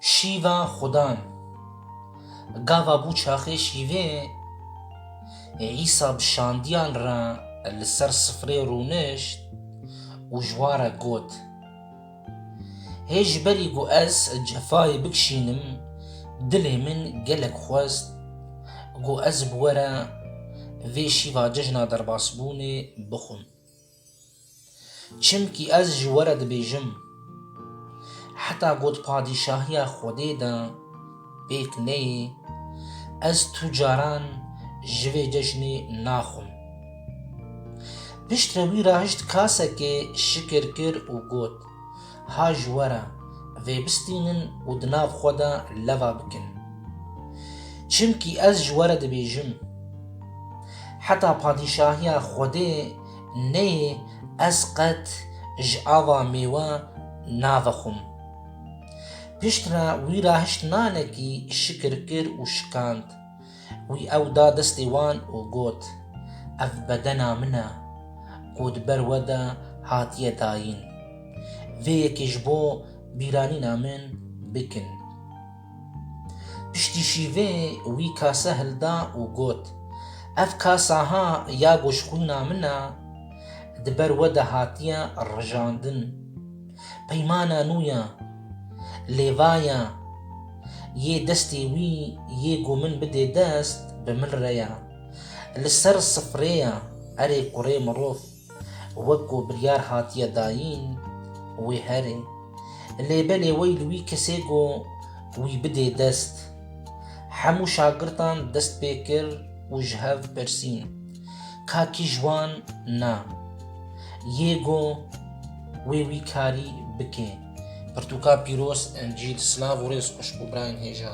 Şîva xudan. Gava bû çaxê şîvê ê Îsa bi şandiyan re li ser sifrê rûnişt û ji wan re got, Hê ji berî ku ez cefayê bikişînim dilê min gelek xwest ku ez bi we re vê şîva cejna derbasbûnê bixwim. Çimkî ez ji we re dibêjim, heta ku di padîşahiya Xwedê de pêk neyê, ez tu caran ji vê ceşnê naxwim. Piştre wî rahişt kasekê şikir kir û got, Ha ji we re, vêbistînin û di nav xwe de leva bikin. Çimkî ez ji we re dibêjim, heta padîşahiya Xwedê Neyê ez qet ji ava mêwe navexwim. Piştre wî ra hişt nanekî şikir kir û şikand. Wî ew da destê wan û got, Ev bedena min e, ku di ber we de hatiye dayîn. Vê yekê ji bo bîranîna min bikin. Piştî şîvê wî kase hilda û got, Ev kasa ha ya goşxwîna min e, di ber we de hatiye rijandin. Peymana nû ye, lêvaye yê destê wî yê ku min bidê dest, bi min re ye. Li ser sifrê ye, erê kurê mirov. Wek ku biryar hatiye dayîn wê here. Lê belê wey li wî kesê ku wî bidê dest. Hemû şagirtan dest pê kir û ji hev pirsîn. Ka kî ji wan na yê ku wê wî karî bike? Pirtûka pîroz Encîl Silav û rêz xweş bo birayên hêja.